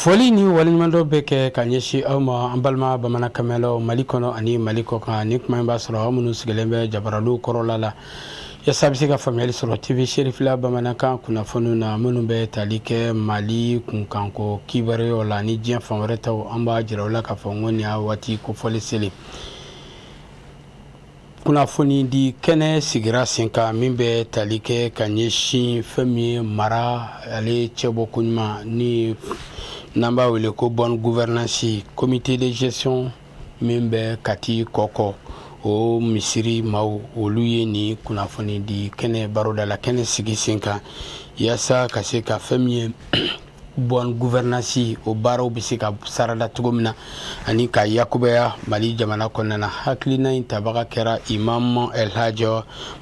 Foli ni waleɲumandɔn bɛ kɛ ka ɲɛsin aw ma an balima bamanankan mɛnnaw mali kɔnɔ ani mali kɔkan ni kuma in b'a sɔrɔ aw minnu sigilen bɛ jabaraniw kɔrɔla la yaasa a bɛ se ka faamuya sɔrɔ tv serifila bamanankan kunnafoni na minnu bɛ tali kɛ mali kunkanko kibaruya la ni diɲɛ fan wɛrɛ taw an b'a jira aw la k'a fɔ n ko waati kofɔlen selen kunnafoni di kɛnɛ sigira sen kan min bɛ tali kɛ ka ɲɛsin fɛn min ye mara ale cɛbɔ ko ɲuman ni n'an b'a wele ko bonne gouvernance comité de gestion min bɛ kati kɔkɔ o misiri ma olu ye nin kunnafoni di kɛnɛ baroda la kɛnɛ sigi sen kan walasa ka se ka fɛn min ye bonne gouvernance o baaraw bɛ se ka sarada cogo min na ani ka yakubaya mali jamana kɔnɔna na hakilina in tabaga kɛra imam el aji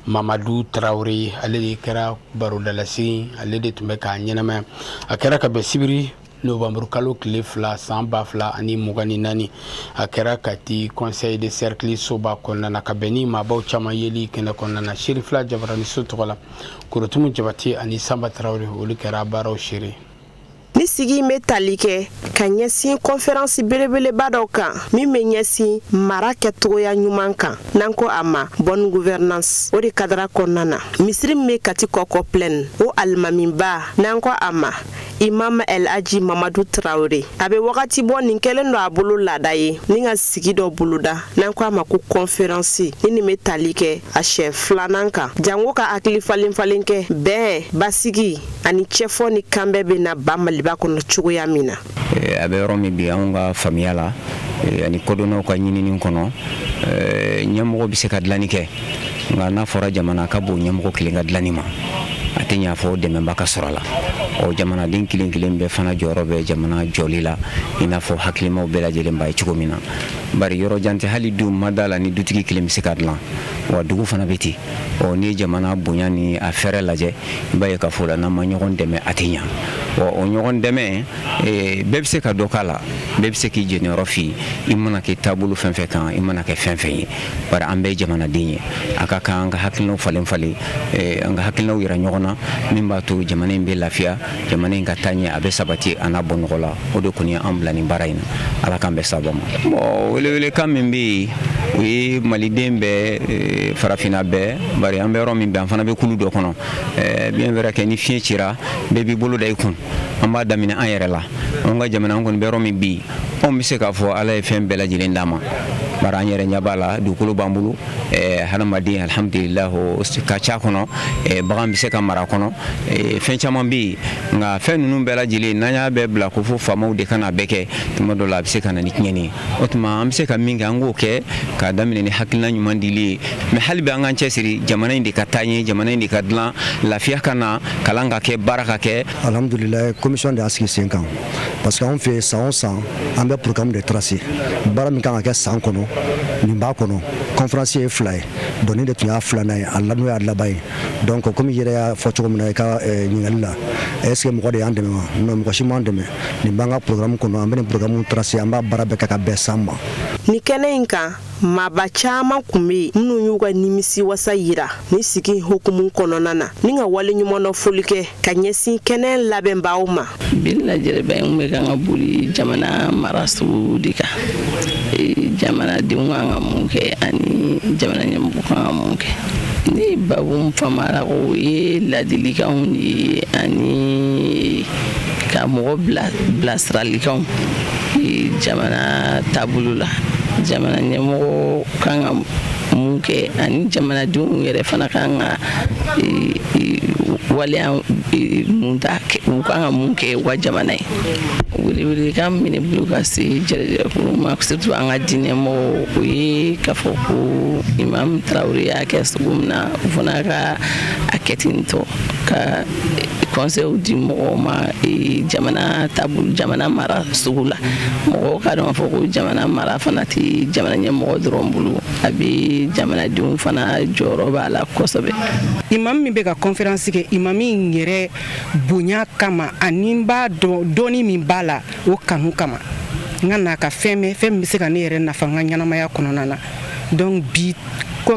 mamadu tarawele ale de kɛra barodalasi ale de tun bɛ k'a ɲɛnamaya a kɛra ka bɛn sibiri novembre kalo tile fila san ba fila ani mugan ni naani a kɛra kati conseil de cercle soba kɔnɔna na ka bɛn ni maabaw caman yeli kɛnɛ kɔnɔna na serifila jabarani so tɔgɔ la korotumu jabatɛ ani sanba tarawele olu kɛra baaraw seere nin sigi in bɛ tali kɛ ka ɲɛsin kɔnferansi belebeleba dɔ kan min bɛ ɲɛsin mara kɛcogoya ɲuman kan n'an ko a ma bonne gouvernance o de kadara kɔnɔna na misiri min bɛ kati kɔkɔ plaine o alimamiba n'an ko a ma imam el aji mamadu tarawele a bɛ wagati bɔ nin kɛlen don a bolo laada ye ni ka sigi dɔ boloda n'an ko a ma ko kɔnferansi ni nin bɛ tali kɛ a siɲɛ filanan kan jango ka hakili falen falen kɛ bɛn basigi ani cɛfɔ ni kanbɛn bɛ na ba maliba kɔnɔ cogoya min na eh, an bɛ yɔrɔ min bi anw ka faamuya la eh, ani kodɔnnaw ka ɲinini kɔnɔ eh, ɲɛmɔgɔ bɛ se ka dilanni kɛ nka n'a fɔra jamana a ka bon ɲɛmɔgɔ kelen ka dilanni ma a tɛ ɲa fo dɛmɛba ka sɔrɔ a la ɔ jamanaden kelen kelen bɛɛ fana jɔyɔrɔ bɛ jamana jɔli la i n'a fɔ hakilimaw bɛɛ lajɛlen b'a ye cogo min na bari yɔrɔ jan tɛ hali du n ma d'a la ni dutigi kelen bɛ se k'a dilan wa dugu fana bɛ ten ɔ n'i ye jamana bonya ni a fɛrɛ lajɛ i b'a ye k'a fɔ la n'an ma ɲɔgɔn dɛmɛ a tɛ ɲa wa o ɲɔgɔn dɛmɛ eh, bɛɛ bɛ se ka dɔ k'a la bɛɛ bɛ se k'i jeniyɔrɔ fin i mana kɛ taabolo fɛn fɛn kan i mana kɛ fɛn fɛn ye bari an bɛɛ ye jamanaden ye a ka kan an ka hakilinaw falen falen eh, an ka hakilinaw yira ɲɔgɔn na min b'a to jamana in bɛ lafiya jamana in ka taa ɲɛ a bɛ sabati a na bɔ nɔgɔ la o de kɔni ye an bila nin baara in na ala k'an bɛn sababu ma bon welewelekan min bɛ yen o ye maliden bɛɛ eh, farafinna bɛɛ bari an bɛ yɔrɔ min bi an fana bɛ kulu dɔ kɔnɔ eh, bien vrai que ni fiɲɛ cira bɛɛ b'i bolo da i kun an b'a daminɛ an yɛrɛ la an ka jamana an kɔni bɛ yɔrɔ min bi anw bɛ se k'a fɔ ala ye fɛn bɛɛ lajɛlen d'an ma bari an yɛrɛ ɲɛ b'a la dugukolo b'an bolo eh, hadamaden alhamdulilah ka ca kɔnɔ eh, bagan bɛ se ka mara kɔnɔ eh, fɛn caman bɛ yen nka fɛn ninnu bɛɛ lajɛlen n'an y'a bɛɛ bila ko fo faamaw de ka na bɛɛ kɛ tuma dɔ la a bɛ se ka na ni tiɲɛni ye o tuma an bɛ se ka min kɛ an k'o kɛ k'a daminɛ ni hakilina ɲuman dili ye mɛ hali bi an k'an cɛsiri jamana in de ka taa ɲɛ jamana in de ka dilan lafiya ka na kalan ka kɛ baara ka kɛ Alhamdulila commission de y'a sigi sen kan parce que anw fɛ san o san an bɛ programme de tracer baara min kan ka kɛ san kɔnɔ nin b'a kɔnɔ conférence ye fila ye donc nin de tun y'a filanan ye a n'o y'a laban ye donc komi i yɛrɛ y'a fɔ cogo min na i ka eh, ɲininkali la est ce que mɔgɔ de y'an dɛmɛ wa non mɔgɔ si m'an dɛmɛ nin b'an ka programme kɔnɔ an bɛ nin programme tracer an b'a baara bɛɛ kɛ ka bɛn san ma. Ni kɛnɛ in kan Maaba caman tun bɛ yen minnu y'u ka nimisiwasa jira ni sigi hukumu kɔnɔna na ni ka waleɲumandɔn foli kɛ ka ɲɛsin kɛnɛ labɛnbaaw ma bi lajɛrɛba in bɛ kan ka boli jamana marasugu de kan jamanadenw kan ka mun kɛ ani jamana ɲɛmɔgɔ kan ka mun kɛ ne bɛ min faamu a la ko o ye ladilikanw de ye ani ka mɔgɔ bilasiralikanw jamana taabolo la jamana ɲɛmɔgɔ kan ka mun kɛ ani jamanadenw yɛrɛ fana kan ka waleya mun ta u kan ka mun kɛ u ka jamana ye welewelekan min bɛ ne bolo ka se jɛrɛjɛrɛkulu ma surtout an ka diinɛ mɔgɔw o ye k'a fɔ ko Imam Tarawele y'a kɛ cogo min na u fana ka a kɛ ten tɔ ka conseil di mɔgɔw ma e, jamana taabolo jamana marasugu la mɔgɔw k'a dɔn k'a fɔ ko jamana mara fana tɛ jamana ɲɛmɔgɔ dɔrɔn bolo a bɛ jamanadenw fana jɔyɔrɔ b'a la kosɛbɛ imam min bɛ ka conférence kɛ imami in yɛrɛ bonya kama ani n b'a dɔn dɔnni min b'a la o kanu kama n ka na ka fɛn mɛn fɛn min bɛ se ka ne yɛrɛ nafa n ka ɲɛnamaya kɔnɔna na donc bi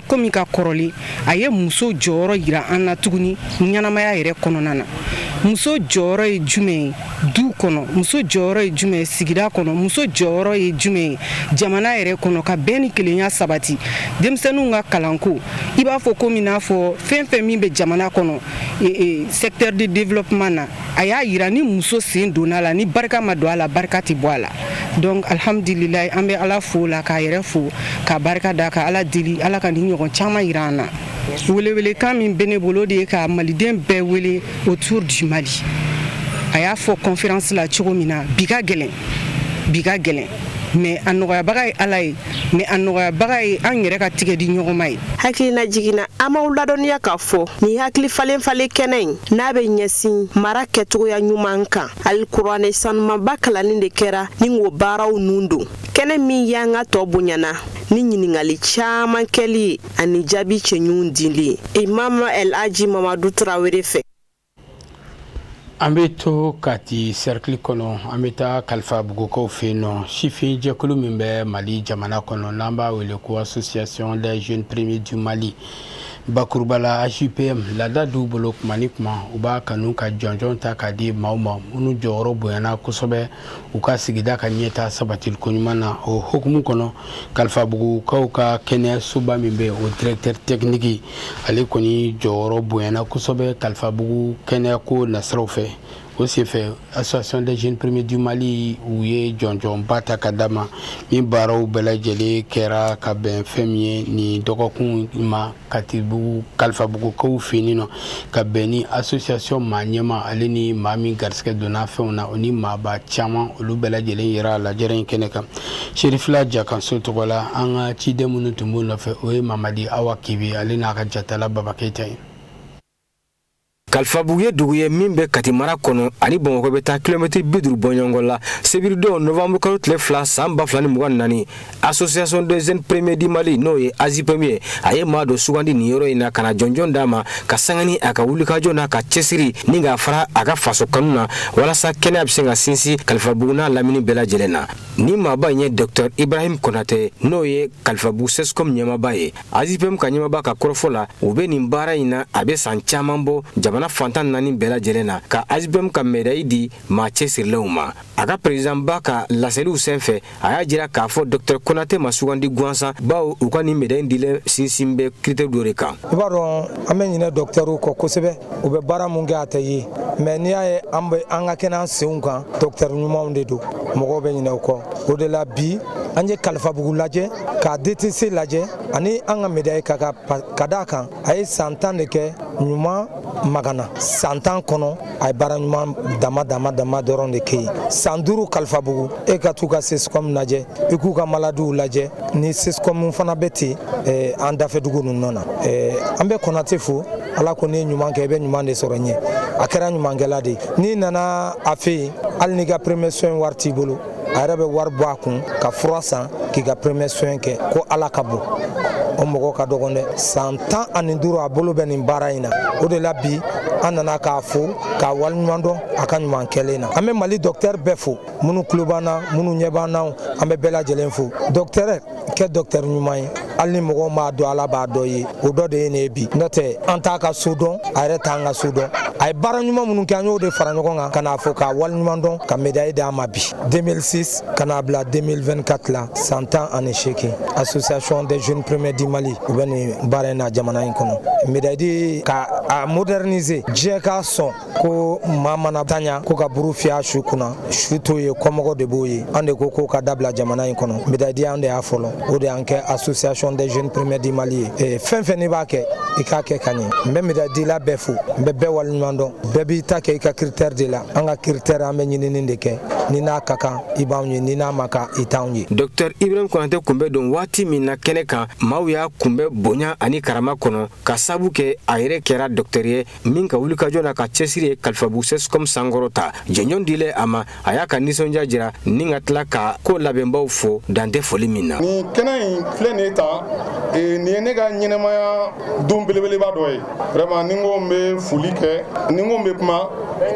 komi ka kɔrɔlen a ye muso jɔyɔrɔ jira an na tuguni ɲɛnamaya yɛrɛ kɔnɔna na muso jɔyɔrɔ ye jumɛn ye du kɔnɔ muso jɔyɔrɔ ye jumɛn ye sigida kɔnɔ muso jɔyɔrɔ ye jumɛn ye jamana yɛrɛ kɔnɔ ka bɛn ni kelenya sabati denmisɛnninw ka kalanko i b'a fɔ komi n'a fɔ fɛn fɛn min bɛ jamana kɔnɔ e, e, secteur de développement na a y'a jira ni muso sen donna a la ni barika ma don a la barika tɛ bɔ a la donc alhamdulilayi an bɛ ala fo la k'a yɛrɛ fo k'a barika da ka ala deli ala ka ni ɲɔgɔn caman jira an na welewelekan min bɛ ne bolo de ye ka maliden bɛɛ wele autour du mali a y'a fɔ conférence la cogo min na bi ka gɛlɛn bi ka gɛlɛn mais a nɔgɔyabaga ye ala ye mɛ a nɔgɔyabaga ye an yɛrɛ ka tigɛ di ɲɔgɔn ma ye hakilina jigin na an b'aw ladɔnniya k'a fɔ ni hakili falen falen kɛnɛ in n'a bɛ ɲɛsin mara kɛcogoya ɲuman kan alikuranɛ sanumanba kalanni de kɛra ni k'o baaraw nun don kɛnɛ min y'an ka tɔ bonyana ni ɲininkali caman kɛli ye ani jaabi cɛɲuw dili ye imam el aji mamadu tarawele fɛ An bɛ to kati sɛrikili kɔnɔ an bɛ taa kalifabugukaw fɛ yen nɔ sifinjɛkulu min bɛ mali jamana kɔnɔ n'an b'a wele ko association des jeunes premier du mali bakurubala azipm laada d'u bolo tuma ni tuma u b'a kanu ka jɔnjɔn ta k'a di maaw ma minnu jɔyɔrɔ bonyana kosɛbɛ u ka sigida ka ɲɛtaa sabatili koɲuman na o hukumu kɔnɔ kalifabugukaw ka kɛnɛyasoba min bɛ o directeur technique ale kɔni jɔyɔrɔ bonyana kosɛbɛ kalifabugu kɛnɛyako nasiraw fɛ o senfɛ association des jeunes premier du mali u ye jɔnjɔnba ta ka d'a ma ni baaraw bɛɛ lajɛlen kɛra ka bɛn fɛn min ye nin dɔgɔkun ma katibugu kalifabugukaw fɛ yen nɔ ka bɛn ni association maa ɲɛmaa ale ni maa min garisigɛ donna fɛnw na o ni maaba caman olu bɛɛ lajɛlen yera lajɛrɛ in kɛnɛ kan serifila jakanso tɔgɔ la an ka ciden minnu tun b'o nɔfɛ o ye mamadi awa kibi ale n'a ka jatala baba keyita ye kalifabugu ye dugu ye min bɛ kati mara kɔnɔ a ni bamakɔ bɛ taa kilomɛtiri bi duuru bɔɲɔgɔnko la sibiridon novanburu kalo tile fila san ba fila ni mugan naani association des jeunes premier du mali n'o ye azipɛmu ye a ye maa dɔ sugandi nin yɔrɔ in na ka na jɔnjɔn d'a ma ka sanga ni a ka wulikajɔ n'a ka cɛsiri ni k'a fara a ka faso kanu na walasa kɛnɛya bɛ se ka sinsin kalifabugu n'a lamini bɛɛ lajɛlen na ni maaba in ye docteur ibrahim konate n'o ye kalifabugu cscom ɲɛmaba ye azipm ka ɲɛmaba ka kɔrɔfɔ la u bɛ nin baara in na a bɛ san caman bɔ jamana fan tan naani bɛɛ lajɛlen na ka azipm ka mɛdayi di maa cɛsirilenw ma a ka perezidanba ka laseliw sen fɛ a y'a jira k'a fɔ dɔktɛri konate ma sugandi gansan bawo u ka nin mɛdayi in dilen sinsin bɛ critère dɔ de kan i b'a dɔn an bɛ ɲinɛ dɔktɛriw kɔ kosɛbɛ u bɛ baara mun kɛ a tɛ ye mɛ n'i y'a ye an bɛ an ka kɛnɛ an senw kan dɔkitɛri ɲumanw de don mɔgɔw bɛ ɲinɛ u kɔ o de la bi an ye kalifabugu lajɛ ka dtc lajɛ ani an ka mɛdayi ka ka ka d'a kan a ye san tan de kɛ ɲumamagana san tan kɔnɔ a ye baara ɲuman dama dama dama dɔrɔn de kɛ yen san duuru kalifabugu e ka t'u ka cscom lajɛ i k'u ka maladiw lajɛ ni cscom fana bɛ ten eh, an dafɛdugu ninnu na eh, an bɛ konate fo ala ko n'i ye ɲuman kɛ i bɛ ɲuman de sɔrɔ ɲɛ a kɛra ɲumankɛla de n'i nana a fɛ yen hali n'i ka premier soin wari t'i bolo a yɛrɛ bɛ wari bɔ a kun ka fura san k'i ka premier soin kɛ ko ala ka bon o mɔgɔ ka dɔgɔ dɛ san tan ani duuru a bolo bɛ nin baara in na o de la bi an nana k'a fo k'a waleɲuman dɔn a ka ɲuman kɛlen na an bɛ mali dɔktɛri bɛɛ fo minnu tulo b'an na minnu ɲɛ b'an na an bɛ bɛɛ lajɛlen fo dɔktɛrɛ kɛ dɔktɛri ɲuman ye hali ni mɔgɔw m'a dɔn ala b'a dɔ ye o dɔ de ye nin ye bi n'o tɛ an t'a ka so dɔn a yɛrɛ t'an ka so dɔn a ye baara ɲuman minnu kɛ an y'o de fara ɲɔgɔn kan ka n'a fɔ k'a wale ɲuman dɔn ka medayi d'a ma bi 2006 ka n'a bila 2024 la san tan ani seegin association des jeunes premiers du mali u bɛ nin baara in na jamana in kɔnɔ medayi di ka a moderniser diɲɛ k'a sɔn ko maa mana tanya ko ka buru fiyɛ su kunna su t'o ye kɔmɔgɔ de b'o ye an de ko k'o ka dabila jamana in kɔnɔ medayi di an de y'a fɔlɔ o de y'an kɛ association des jeunes premiers du mali ye eh, fɛn fɛn n'i b'a kɛ i k'a kɛ ka ɲɛ n bɛ medayidila bɛɛ fo n bɛ bɛɛ waleɲuman dɔn bɛɛ b'i ta kɛ i ka critère de la an ka critère an bɛ ɲinini de kɛ n'i n'a ka kan i b'anw ye n'i n'a man kan i t'anw ye docteur ibrahim konate tun bɛ don waati min na kɛnɛ kan maaw y'a kunbɛn bonya ani karama kɔnɔ ka sabu kɛ a yɛrɛ kɛra docteur ye min ka wulikajɔ n'a ka cɛsiri ye kalifabugu cscom sankɔrɔta jɔnjɔn dilen a ma a y'a ka nisɔndiya jira ni ka tila ka ko labɛnbaw fo dantɛ foli min na nin kɛnɛ in filɛ nin ye tan e, nin ye ne ka ɲɛnamaya don belebeleba dɔ ye vraiment ni n ko n bɛ foli kɛ ni n ko n bɛ kuma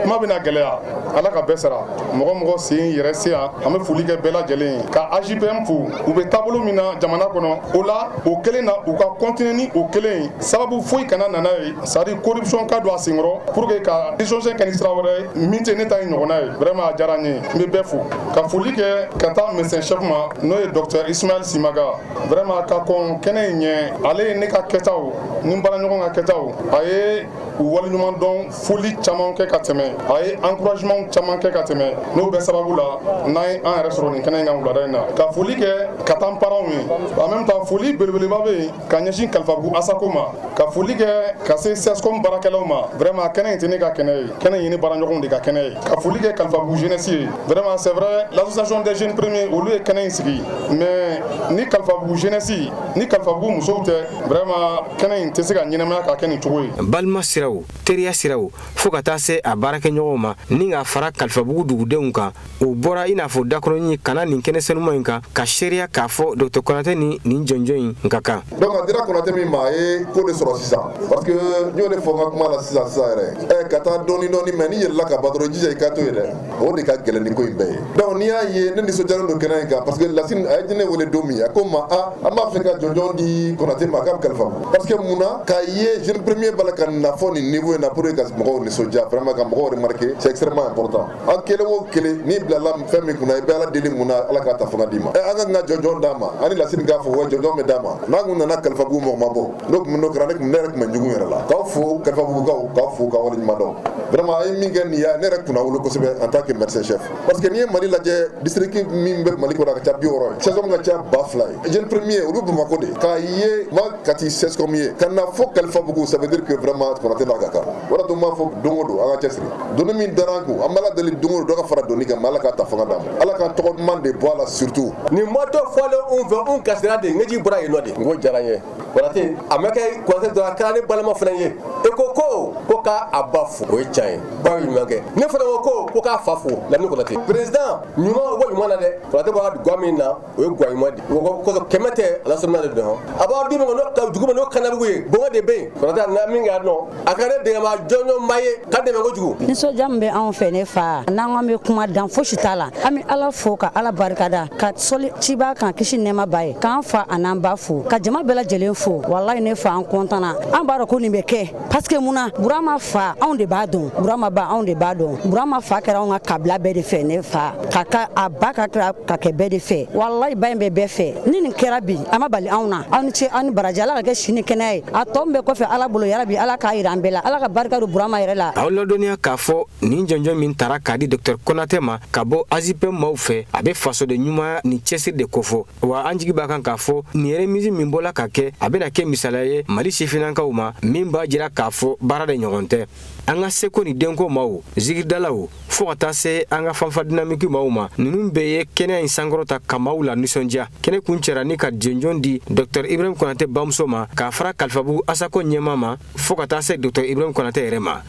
kuma bɛna gɛlɛya ala ka bɛɛ sara mɔgɔ mɔgɔ sen yɛrɛ se yan an bɛ foli kɛ bɛɛ lajɛlen ye ka ajpm fo u bɛ taabolo min na jamana kɔnɔ o la o kelen na u ka kɔntine ni o kelen ye sababu foyi kana na n'a ye C'est-à-dire corruption ka don a senkɔrɔ pour que ka chose kɛ ni sira wɛrɛ min tɛ ne ta in ɲɔgɔnna ye vraiment a diyara n ye n bɛ bɛɛ fo ka foli kɛ ka taa médecin chef ma n'o ye docteur ismaël simaga vraiment ka kɔn kɛnɛ in ɲɛ ale ye ne ka kɛtaw ni baaraɲɔgɔn ka kɛtaw a ye u waleɲuman dɔn foli caman kɛ ka tɛmɛ a ye encouragement caman kɛ ka tɛmɛ n'o bɛɛ sababu la n'a ye an yɛrɛ sɔrɔ nin kɛnɛ in kan wulada in na ka foli kɛ ka taa parentw ye en même temps foli belebeleba bɛ yen ka ɲɛsin kalifabugu asaco ma ka foli kɛ ka se cscom baarakɛlaw ma vraiment kɛnɛ in tɛ ne ka kɛnɛ ye kɛnɛ in ye ne baaraɲɔgɔnw de ka kɛnɛ ye ka foli kɛ kalifabugu jeunesse ye vraiment c'est vrai l'association des jeunes premiers olu ye kɛnɛ in sigi mais ni kalifabugu jeunesse ni kalifabugu musow tɛ vraiment kɛnɛ in tɛ se ka ɲɛnamaya ka kɛ nin cogo ye balima siraw teriya siraw fo ka taa se a baarakɛɲɔgɔnw ma ni ka fara kalifabugu dugudenw kan o bɔra i n'a fɔ dakɔrɔnin ka na nin kɛnɛ senuma in kan ka seereya k'a fɔ docteur konatɛ ni nin jɔnjɔn in ka kan donc a dira konatɛ min ma a ye ko de sɔrɔ sisan parce que n y'o de fɔ n ka kuma la sisan sisan yɛrɛ ɛ ka taa dɔɔni dɔɔni mais n'i yɛlɛnna ka ban dɔrɔn i jija i ka to yen dɛ o de ka gɛlɛn ni ko in bɛɛ ye donc n'i y'a ye ne nisɔndiyalen don kɛnɛ in kan parce que lasini a ye ne wele don min a ko n ma a an b'a fɛ ka jɔnjɔn di konatɛ ma a ka kalifabugu parce que mun na k'a ye jeunes premiers b'a la ka na fo nin niveau in na pour que ka mɔgɔw nisɔndiya vraiment ka mɔgɔw remarquer c'est extrêmement important an kelen o kelen n'i bilala fɛn min kunna i bɛ ala deli mun na ala ka ta fanga d'i ma an ka kan ka jɔnjɔn d'a ma ani lasiri k'a fɔ wa jɔnjɔn bɛ d'a ma n'a kun nana kalifabugu mɔgɔ ma bɔ n'o tun n'o kɛra ne tun ne yɛrɛ tun bɛ ɲugun yɛrɛ la k'aw fo kalifabugukaw k'aw fo k'aw waleɲumandɔn vraiment aw ye min kɛ nin ye ne yɛrɛ kunnawolo kosɛbɛ en tant que médecin chef parce que n'i ye mali lajɛ district min bɛ mali kɔnɔ a ka ca bi wɔɔrɔ ye cscom ka ca ba fila ye jeune premier olu bamakɔ de k'a ye kati cscom ye ka na fɔ kalifabugu ça veut dire que vraiment konatɛ n'a ka kan o tun b'a fɔ don o don an ka cɛsiri doni min dara a kun an b'ala deli don o don dɔ ka fara doni kan ala ka ta fanga d'a ma ala ka tɔgɔ duman de bɔ a la surtout nin matɔ fɔlen anw fɛ anw ka sira de ɲɛji bɔra yen nɔ de ko diyara ye konatɛ a ma kɛ konatɛ dɔrɔn kɛra ne balima fana ye e ko ko ko k'a a ba fo o ye ca ye ba ye ɲuman kɛ ne fana ko ko ko k'a fa fo la ni konatɛ président ɲuman wa ɲuman na dɛ konatɛ b'a ga min na o ye guma di mɔgɔ kɛmɛ tɛ ala de dɔn a b'a di mɔgɔ jugu ma n'o kanabugu ye bo de bɛ yen kɔrɔta na min k'a dɔn a ka ne dɛmɛba jɔnjɔnba ye ka n dɛmɛ kojugu nisɔndiya min bɛ anw fɛ ne fa n'an k'an bɛ kuma dan fosi t'a la an bɛ ala fo ka ala barikada ka sali ciba kan kisi nɛɛma b'a ye k'an fa an'an ba fo ka jama bɛɛ lajɛlen fo walayi ne fa an kɔntanna an b'a dɔn ko nin bɛ kɛ paseke mun na burama fa anw de b'a dɔn burama ba anw de b'a dɔn burama fa kɛra anw ka kabila bɛɛ de fɛ ne fa ka ka a ba ka kira ka kɛ bɛɛ de fɛ walayi ba in bɛ bɛɛ fɛ ni nin kɛra bi a ma bali anw na aw ni ce aw ni baraji ala k'a kɛ sini kɛnɛya ye a tɔ min bɛ kɔfɛ ala bolo yarabi ala k'a yira an bɛɛ la ala ka barika don burama yɛrɛ la aw ladɔnniya k'a fɔ nin jɔnjɔn min tara k'a di dɔktɛr konatɛ ma ka bɔ azipɛ maw fɛ a bɛ fasoden ɲumanya ni cɛsiri de kofɔ wa an jigi b'a kan k'a fɔ nin remise min bɔla ka kɛ a bɛna kɛ misaliya ye mali sifinnankaw ma min b'a jira k'a fɔ baara de ɲɔgɔn tɛ an ka seko ni dɔnko maw zikiridalaw fɔɔ ka taa se an ka fanfa dinamiki maw ma ninnu bɛɛ ye kɛnɛ in sankɔrɔta ka maw lanisɔndiya kɛnɛ kuncɛra ni ka jɔnjɔn di dɔktɔr ibrahim konate bamuso ma k'a fara kalifabugu asako ɲɛmaa ma fɔɔ ka taa se dɔktɔr ibrahim konate yɛrɛ ma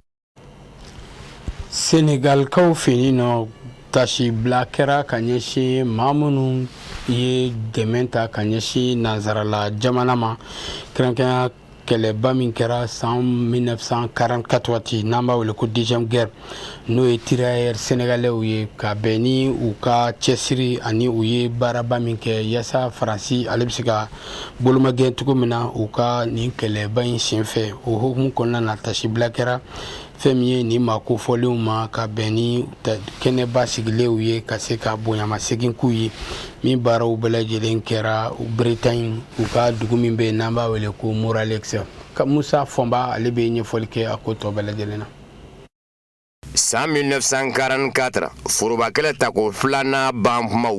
Senegalikaw fɛ yen nɔ tasibila kɛra ka ɲɛsin maa minnu ye dɛmɛ ta ka ɲɛsin nansarala jamana ma kɛrɛnkɛrɛnya kɛlɛba min kɛra san mille neuf cent quarante-quatre waati n'an b'a wele ko deuxième guerre n'o ye tirailleurs sénégalais ye ka bɛn ni u ka cɛsiri ani u ye baaraba min kɛ yaasa faransi ale bɛ se ka bolomagɛn cogo min na u ka nin kɛlɛba in senfɛ o hukumu kɔnɔna na tasibila kɛra fɛn min ye nin maa kofɔlenw ma ka bɛn ni kɛnɛba sigilenw ye ka se ka bonyamasegin k'u ye min baaraw bɛɛ lajɛlen kɛra bretagne u ka dugu min bɛ yen n'an b'a wele ko morlaix musa fɔnba ale bɛ ɲɛfɔli kɛ a ko tɔ bɛɛ lajɛlen na san 1944 foroba kɛlɛ tako filanan ban kumaw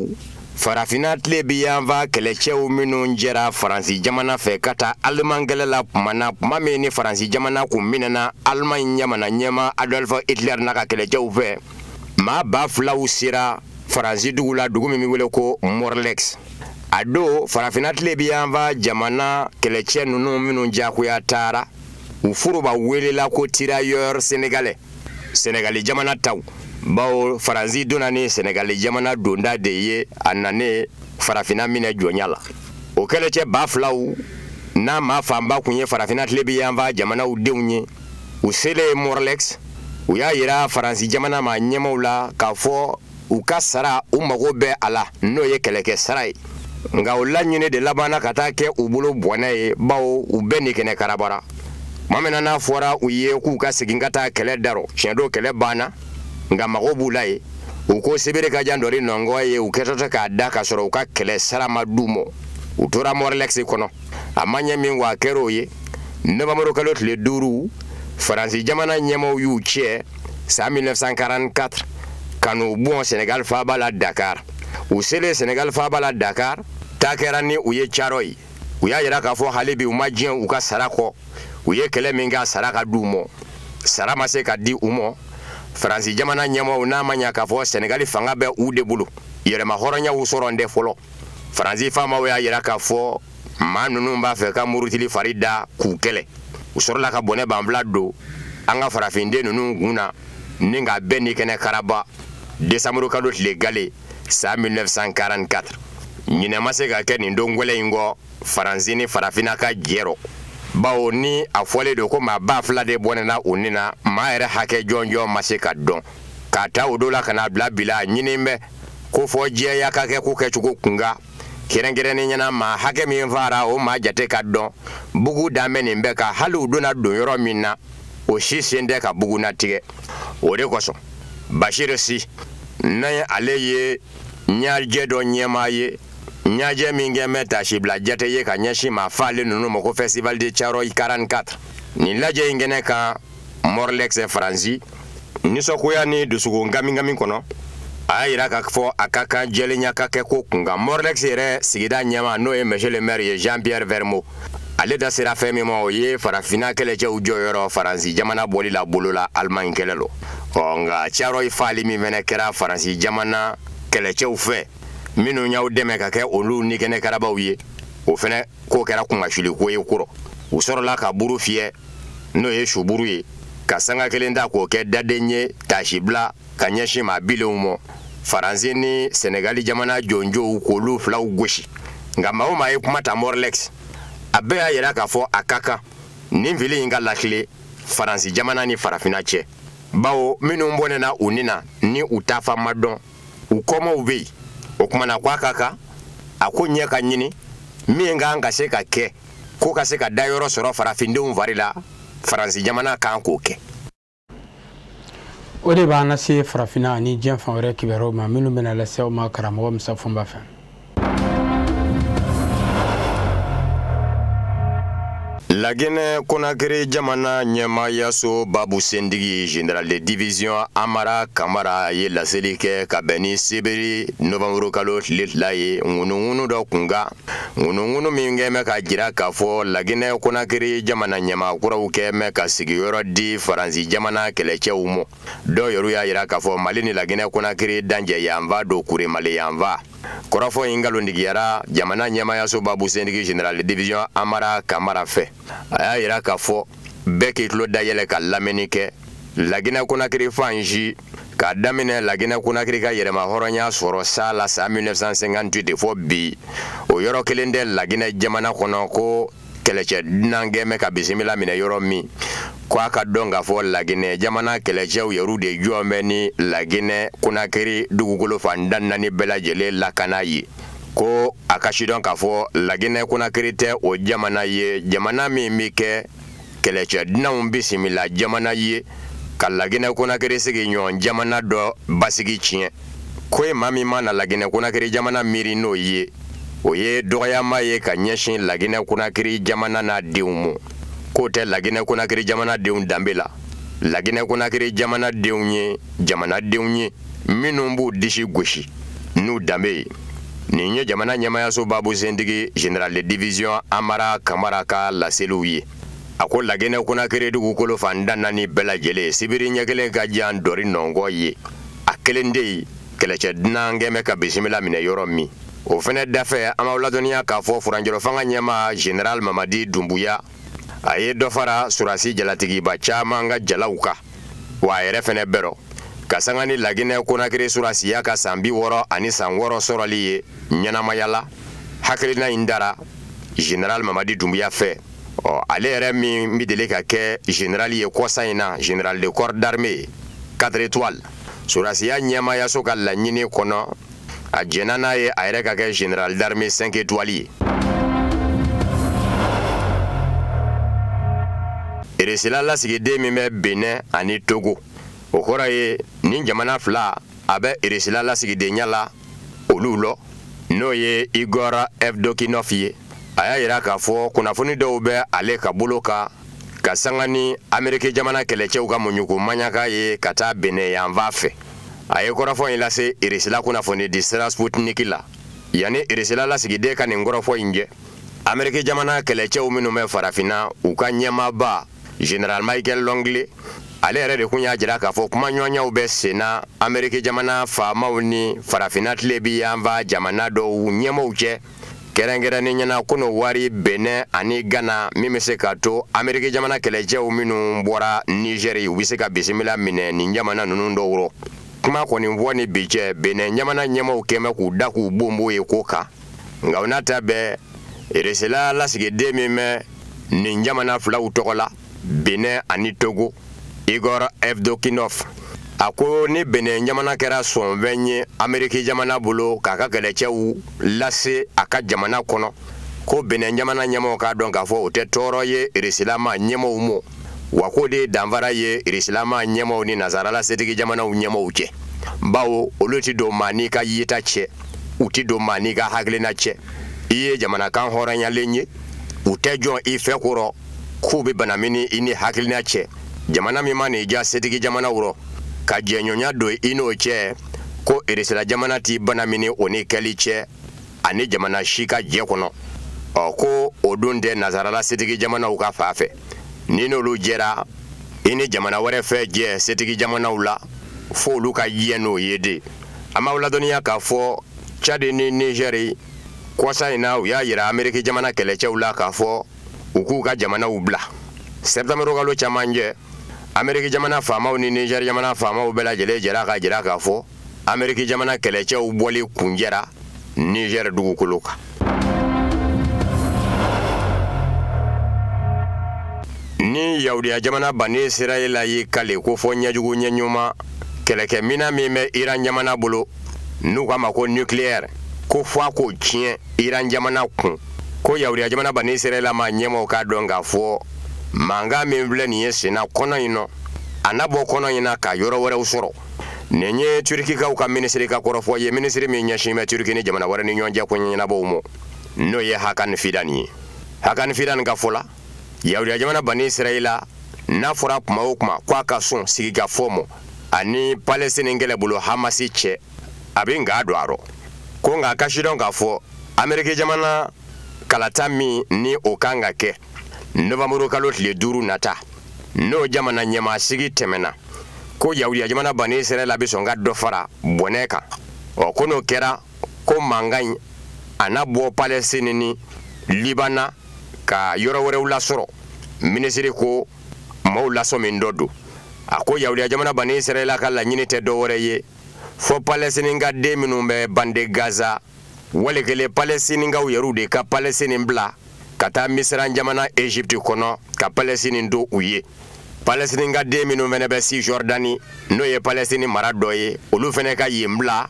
farafinna tilebinyanfan kɛlɛcɛw minnu jɛra faransi jamana fɛ ka taa aliman kɛlɛ la tuma na tuma min ni faransi jamana kun minɛna alimaɲi jamana ɲɛmaa adolf hitler n'a ka kɛlɛcɛw fɛ maa ba filaw sera faransi dugu la dugu min bɛ wele ko morlaix a don farafinna tilebinyanfan jamana kɛlɛcɛ ninnu minnu jagoya taara u foroba welela ko tirailleurs sénégalais sɛnɛgali jamana taw bawo faransi donna ni sɛnɛgali jamana donda de ye a nalen farafina minɛ jɔnya la o kɛlɛcɛ ba filaw n'a maa fanba kun ye farafina tilebinyanfan jamanaw denw ye u selen morlaix u y'a yira faransi jamana ma ɲɛmaaw la k'a fɔ u ka sara u mago bɛ a la n'o ye kɛlɛkɛ sara ye nka u laɲini de labanna ka taa kɛ u bolo bɔnɛ ye bawo u bɛɛ ni kɛnɛ karabara tuma min n'a fɔra u ye k'u ka segin ka taa kɛlɛ darɔ tiɲɛ don kɛlɛ banna nka mago b'u la ye u ko sibiri ka jan dɔri nɔngɔn ye u kɛtɔ tɛ ka taa ka sɔrɔ u ka kɛlɛ sara ma di u ma u tora morlaix kɔnɔ a ma ɲɛ min wa kɛra o ye nowanburu kalo tile duuru faransi jamana ɲɛmaaw y'u cɛ san 1944 ka n'u bɔn Senegal faaba la Dakar u selen Senegal faaba la Dakar taa kɛra ni u ye Thiaroye u y'a jira k'a fɔ hali bi u ma diɲɛ u ka sara kɔ u ye kɛlɛ min kɛ a sara ka di u ma sara ma se ka di u ma Faransi jamana ɲɛmaaw n'a ma ɲa k'a fɔ Senegali fanga bɛ u de bolo yɛrɛmahɔrɔnyaw sɔrɔlen tɛ fɔlɔ Faransi faamaw y'a jira k'a fɔ maa ninnu b'a fɛ ka murutili fari da k'u kɛlɛ u sɔrɔla ka bɔnɛ banfula don an ka farafinden ninnu kun na ni ka bɛɛ ni kɛnɛ karaba desanburu kalo tile gale san 1944 ɲinɛ ma se ka kɛ nin don gwɛlɛ in kɔ faransi ni farafina ka jɛ rɔ bawo ni a fɔlen don ko maa ba fila de bɔnɛna u ni na maa yɛrɛ hakɛ jɔnjɔn ma se ka dɔn k'a ta o don la ka n'a bila bi la ɲinin bɛ ko fo jɛya ka kɛ ko kɛcogo kunkan kɛrɛnkɛrɛnnenya na maa hakɛ min faara o maa jate ka dɔn bugu danbe nin bɛ ka hali u donna don yɔrɔ min na o si selen tɛ ka bugunatigɛ o de kosɔn bachir sy ni ale ye ɲajɛ dɔ ɲɛmaa ye ɲajɛ min kɛlen bɛ taasibila jate ye ka ɲɛsin maa faalen ninnu ma ko festival de thiaroye 44 nin lajɛ in kɛnɛ kan morlaix faransi nisɔngoya ni dusukun gamigami kɔnɔ a y'a jira k'a fɔ a ka kan jɛlenya ka kɛ ko kunkan morlaix yɛrɛ sigida ɲɛmaa n'o ye monsieur le maire ye jean pierre vermot ale da sera fɛn min ma o ye farafinna kɛlɛcɛw jɔyɔrɔ faransi jamana bɔli la bolo la alimaɲi kɛlɛ rɔ ɔ nka thiaroye faali min fɛnɛ kɛra faransi jamana kɛlɛcɛw fɛ minnu y'u dɛmɛ ka kɛ olu nikɛnɛ karabaw ye o fɛnɛ k'o kɛra kunmasuuli ko ye kɔrɔ u sɔrɔla ka buru fiyɛ n'o ye suburu ye ka sanga kelen ta k'o kɛ daden ye taasibila ka ɲɛsin maa bilenw ma faransi ni sɛnɛgali jamana jɔnjɔw k'olu filaw gosi nka maa o maa ye kuma ta morlex a bɛɛ y'a yira k'a fɔ a ka kan nin fili in ka lakile faransi jamana ni farafina cɛ bawo minnu bɔnɛna u ni na ni u taafan ma dɔn u kɔmaaw bɛ yen o kumana ko a ka kan a ko ɲɛ ka ɲini min ka kan ka se ka kɛ ko ka se ka dayɔrɔ sɔrɔ farafindenw fari la faransi jamana kan k'o kɛ o de b'an lase farafinna ani diɲɛ fan wɛrɛ kibaruyaw ma minnu bɛna lase aw ma karamɔgɔ musa fɔnba fɛ laginɛ konakiri jamana ɲɛmaayaso babu sentigi general de division amara kamara ye laseli kɛ ka bɛn ni sibiri novanburukalo tile fila ye ŋunuŋunu dɔ kunkan Ŋunuŋunu min kɛn bɛ k'a jira k'a fɔ La Guinee Conakry jamana ɲɛmaa kuraw kɛn bɛ ka sigiyɔrɔ di Faransi jamana kɛlɛcɛw mɔ, dɔ yɛrɛw y'a jira k'a fɔ Mali ni La Guinee Conakry dancɛ yanfan don Kuremale yanfan. Kɔrɔfɔ in nkalontigiyara jamana ɲɛmaayaso babu sentigi General de division Amara Camara fɛ. A y'a jira k'a fɔ. bɛɛ k'i tulo dayɛlɛ ka lamɛnni kɛ laginɛ konakiri fan si k'a daminɛ laginɛ konakiri ka yɛrɛmahɔrɔnya sɔrɔ san na san 1958 de fɔ bi o yɔrɔ kelen tɛ laginɛ jamana kɔnɔ ko kɛlɛcɛ dunan kɛn bɛ ka bisimila minɛ yɔrɔ min ko a k'a dɔn k'a fɔ laginɛ jamana kɛlɛcɛw yɛrɛw de jɔn bɛ ni laginɛ konakiri dugukolo fan tan ni naani bɛɛ lajɛlen lakana ye ko a k'a sidɔn k'a fɔ laginɛ konakiri tɛ o jamana ye jamana min bɛ kɛ kɛlɛcɛ dunanw bisimila jamana ye ka laginɛ konakiri sigiɲɔgɔn jamana dɔ basigi tiɲɛ ko ye maa min mana laginɛ konakiri jamana miiri n'o ye o ye dɔgɔyama ye ka ɲɛsin laginɛ konakiri jamana n'a denw ma k'o tɛ laginɛ konakiri jamanadenw danbe la laginɛ konakiri jamanadenw ye jamanadenw ye minnu b'u disi gosi n'u danbe ye nin ye jamana ɲɛmaayaso babu sentigi general de division amara kamara ka laseliw ye a ko laginɛ konakiri dugukolo fan tan ni naani bɛɛ lajɛlen sibiri ɲɛ kelen ka jan ntori nɔngɔn ɲa kelen tɛ yen kɛlɛcɛ dunan kɛn bɛ ka bisimila minɛ yɔrɔ min o fɛnɛ dafɛ an b'aw ladɔnniya k'a fɔ furancɛrɔfanga ɲɛmaa general mamadi dunbuya a ye dɔ fara surasi jalatigiba caman ka jalaw kan wa a yɛrɛ fana bɛ rɔ ka sanga ni laginɛ konakiri surasiya ka san bi wɔɔrɔ ani san wɔɔrɔ sɔrɔli ye ɲɛnamaya la hakilina in tara general mamadi dunbuya fɛ ɔ ale yɛrɛ min bɛ deli ka kɛ general ye kɔsa in na general de corps d'armée quatre étoiles surasiya ɲɛmaayaso ka laɲini kɔnɔ a jɛnna n'a ye a yɛrɛ ka kɛ general d'armée cinq étoiles ye irisila lasigiden min bɛ benɛn ani togo o kɔrɔ ye ni jamana fila a bɛ irisila lasigidenya la olu la n'o ye igor evdokinov ye a y'a jira k'a fɔ kunnafoni dɔw bɛ ale ka bolo kan ka sanga ni amerikɛ jamana kɛlɛcɛw ka muɲuku maɲaka ye ka taa benɛn yanfan fɛ a ye kɔrɔfɔ in lase irisila kunnafoni di sira sputniki la yanni irisila lasigiden ka nin kɔrɔfɔ in cɛ amerikɛ jamana kɛlɛcɛw minnu bɛ farafinna u ka ɲɛmaaba general michael langley ale yɛrɛ de kun y'a jira k'a fɔ kuma ɲɔgɔnyaw bɛ senna amerikɛ jamana faamaw ni farafinna tilebin yanfan jamana dɔw ɲɛmaaw cɛ kɛrɛnkɛrɛnnenya la kɔnɔwari benɛn ani gana min bɛ se ka to ameriki jamana kɛlɛcɛw minnu bɔra nizɛri u bɛ se ka bisimila minɛ nin jamana ninnu dɔw rɔ kuma kɔni fɔ ni bi cɛ benɛn jamana ɲɛmaw kɛmɛ k'u da k'u bonbo ye ko kan nka o n'a ta bɛɛ irisila lasigiden min bɛ nin jamana filaw tɔgɔ la Benin ani Togo Igor Evdokinov a ko ni Benin jamana kɛra sɔnfɛn ye Ameriki jamana bolo k'a ka kɛlɛcɛw lase a ka jamana kɔnɔ ko Benin jamana ɲɛmɔgɔw k'a dɔn k'a fɔ o tɛ tɔɔrɔ ye Irisila-ma ɲɛmɔgɔw ma wa k'o de ye danfara ye Irisila-ma ɲɛmɔgɔw ni nasarala setigi jamanaw ɲɛmɔgɔw cɛ bawo olu tɛ don maa n'i ka yeta cɛ u tɛ don maa n'i ka hakilina cɛ i ye jamana kanhɔrɔnyalen ye u tɛ jɔn i fɛ kɔrɔ k'u bɛ banamini i n'i hakilina cɛ jamana min man'i diya setigi jamanaw rɔ ka jɛɲɔgɔnya don i n'o cɛ ko irisila jamana t'i banamini o ni kɛli cɛ ani jamana si ka jɛ kɔnɔ ɔ ko o dun tɛ nansarala setigi jamanaw ka fan fɛ n'i n'olu jɛra i ni jamana wɛrɛ tɛ jɛ setigi jamanaw la fo olu ka diɲɛ n'o ye de an b'aw ladɔnniya k'a fɔ cadi ni nizɛri kɔsa in na u y'a jira ameriki jamana kɛlɛcɛw la k'a fɔ u k'u ka jamanaw bila sɛtanburukalo camancɛ ameriki jamana faamaw ni nizɛri jamana faamaw bɛɛ lajɛlen jɛra k'a jira k'a fɔ ameriki jamana kɛlɛcɛw bɔli kuncɛra nizɛri dugukolo kan ni yahudiya jamana bani israɛla y'i kali ko fɔ ɲɛjugu ɲɛ ɲuman kɛlɛkɛminɛn min bɛ iran jamana bolo n'u k'a ma ko nucleaire ko fɔ a k'o tiɲɛ iran jamana kun ko yahudiya jamana bani israɛla ma ɲɛmɔgɔw k'a dɔn k'a fɔ mankan min filɛ nin ye senna kɔnɔ in na a na bɔ kɔnɔ in na ka yɔrɔ wɛrɛw sɔrɔ nin ye turikikaw ka minisiri ka kɔrɔfɔ ye minisiri min ɲɛsinnen bɛ turiki ni jamana wɛrɛ ni ɲɔgɔn cɛ koɲɛ ɲɛnabɔw ma n'o ye hakani fidan ye hakani fidan ka fɔ la yahudiya jamana bani israɛla n'a fɔra kuma o kuma ko a ka sɔn sigikafɔ ma a ni palestinin kɛlɛbolo hamasi cɛ a bɛ nka don a rɔ ko nka a k'a sidɔn k'a fɔ ameriki jamana kalata min ni o kan ka kɛ novanburu kalo tile duuru nata n'o jamana ɲɛmaasigi tɛmɛna ko yahudiya jamana bani israɛla bɛ sɔn ka dɔ fara bɔnɛ kan ɔ ko n'o kɛra ko mankan in a na bɔ palɛsini ni libana ka yɔrɔ wɛrɛw lasɔrɔ minisiri ko maaw lasɔmin dɔ don a ko yahudiya jamana bani israɛla ka laɲini tɛ dɔ wɛrɛ ye fɔ palɛsininka den minnu bɛ bande gaza wali kelen palɛsininkaw yɛrɛw de ka palɛsinin bila ka taa misiran jamana egypte kɔnɔ ka palɛsinin to u ye palɛsininka den minnu fana bɛ sijɔrdani n'o ye palɛsinin mara dɔ ye olu fana ka yen bila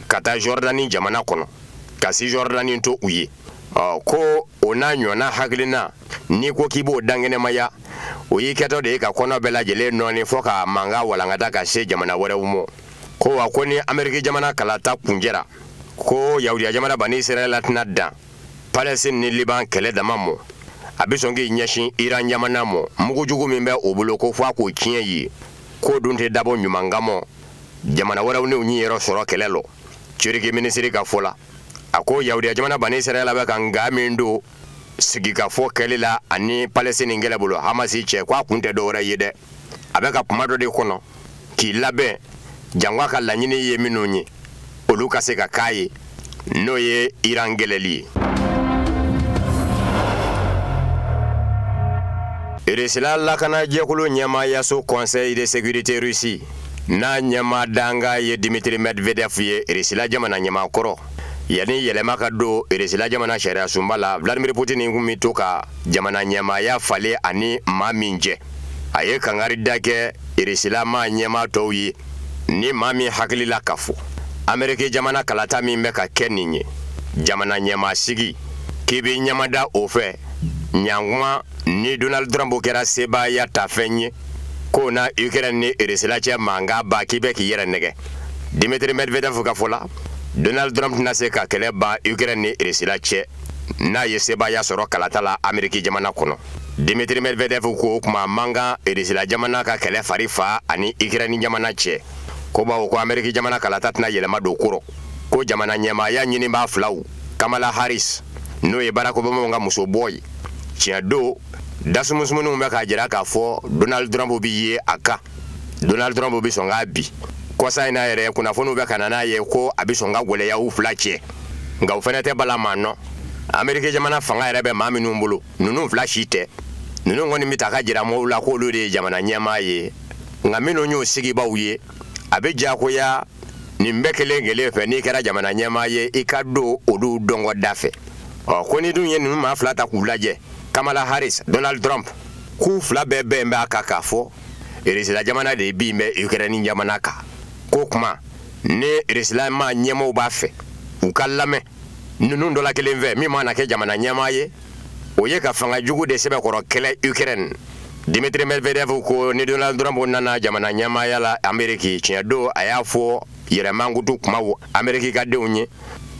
ka taa jɔrdani jamana kɔnɔ ka sijɔrdani to u ye ko o n'a ɲɔgɔnna hakilina n'i ko k'i b'o dankɛnɛmaya o y'i kɛtɔ de ye ka kɔnɔ bɛɛ lajɛlen nɔɔni fɔ ka mankan walankata ka se jamana wɛrɛw ma ko wa ko ni ameriki jamana kalata kuncɛra ko yahudiya jamana bani israɛla tɛna dan palɛsine ni liban kɛlɛ dama mɔ a bɛ sɔn k'i ɲɛsin iran jamana mɔ mugu jugu min bɛ o bolo ko fɔ a k'o tiɲɛ ye k'o dun tɛ dabɔ ɲuman kamɔ jamana wɛrɛw n'u niyɔrɔ sɔrɔ kɛlɛ lɔ turiki minisiri ka fɔ la a ko yahudiya jamana bani israɛla bɛ ka nka min don sigikafɔ kɛli la ani palestine kɛlɛ bolo hamasi cɛ k'a kun tɛ dɔwɛrɛ ye dɛ a bɛ ka tuma dɔ de kɔnɔ k'i labɛn janko a ka laɲini ye minnu ye olu ka se ka k'a ye n'o ye iran kɛlɛli ye irisila lakana jɛkulu ɲɛmaayaso conseil de sécurité russie n'a ɲɛmaa dankan ye dimitri medvedev ye irisila jamana ɲɛmaa kɔrɔ Yanni yɛlɛma ka don Irisila jamana sariyasunba la, Vladimir Poutine tun bɛ to ka jamana ɲɛmaaya falen a ni maa min cɛ, a ye kankarida kɛ Irisilamaa ɲɛmaa tɔw ye, ni maa min hakili la k'a fɔ, Ameriki jamana kalata min bɛ ka kɛ nin ye, jamana ɲɛmaasigi, k'i b'i ɲɛmada o fɛ, ɲantuma ni Donald Trump kɛra sebaayatafɛn ye, k'o na Ukraine ni Irisila cɛ mankan ban, k'i bɛ k'i yɛrɛ nɛgɛn. Dimitri medvedev ka fɔ la donald trump tɛna se ka kɛlɛ ban ukrɛni ni irisila cɛ n'a ye sebaaya sɔrɔ kalata la amiriki jamana kɔnɔ dimitri medvedev ko o tuma man kan irisila jamana ka kɛlɛ fari fa ani ukrɛni jamana cɛ ko bawo ko amiriki jamana kalata tɛna yɛlɛma don ko rɔ ko jamana ɲɛmaaya ɲinibaa filaw kamala harris n'o ye barack obamaw ka muso bɔ ye tiɲɛ don dasumusumuninw bɛ k'a jira k'a fɔ donald trump bɛ ye a kan donald trump bɛ sɔn k'a bin kɔsa in na yɛrɛ kunnafoniw bɛ ka na n'a ye ko a bɛ sɔn ka gɛlɛya u fila cɛ nka o fana tɛ bala maa la ameriki jamana fanga yɛrɛ bɛ maa minnu bolo ninnu fila si tɛ ninnu kɔni bɛ ta ka jira mɔgɔw la k'olu de ye jamana ɲɛmaa ye nka minnu y'o sigibaaw ye a bɛ diyagoya nin bɛɛ kelen kelen fɛ n'i kɛra jamana ɲɛmaa ye i ka don olu dɔnkɔda fɛ ɔ ko ni dun ye ninnu maa fila ta k'u lajɛ kamala harris donald trump k'u fila bɛɛ bɛn b'a kan k'a fɔ Irisila jamana de bin bɛ ukrɛni jamana kan ko kuma ni irisila maa ɲɛmaaw b'a fɛ u k'a lamɛn ninnu dɔ la kelen fɛ min mana kɛ jamana ɲɛmaa ye o ye ka fanga jugu de sɛbɛkɔrɔ kɛlɛ ukrɛni dmitri medvedev ko ni donald trump nana jamana ɲɛmaaya la ameriki tiɲɛ don a y'a fɔ yɛrɛmankutu kuma ameriki ka denw ye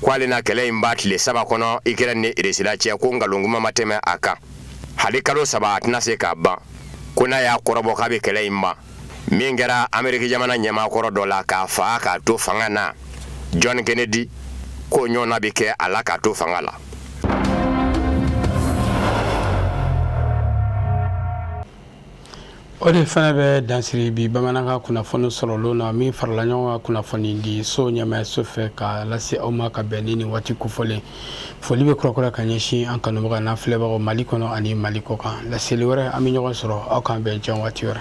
ko ale na kɛlɛ in ban tile saba kɔnɔ ukrɛni ni irisila cɛ ko nkalon ma tɛmɛ a kan hali kalo saba a tɛna se k'a ban ko n'a y'a kɔrɔbɔ k'a bɛ kɛlɛ in ban min kɛra ameriki jamana ɲɛmaakɔrɔ dɔ la k'a faa k'a to fanga na john kennedy k'o ɲɔgɔnna bɛ kɛ a la k'a to fanga la O de fana bɛ dansiri bi bamanankan kunnafoni sɔrɔlen na min farala ɲɔgɔn kan kunnafonidisow ɲɛmaayaso fɛ ka lase aw ma ka bɛn ni nin waati kofɔlen foli bɛ kurakura ka ɲɛsin an kanubagaw n'an filɛbagaw mali kɔnɔ ani mali kɔ kan laseli wɛrɛ an bɛ ɲɔgɔn sɔrɔ aw k'an bɛn yan waati wɛrɛ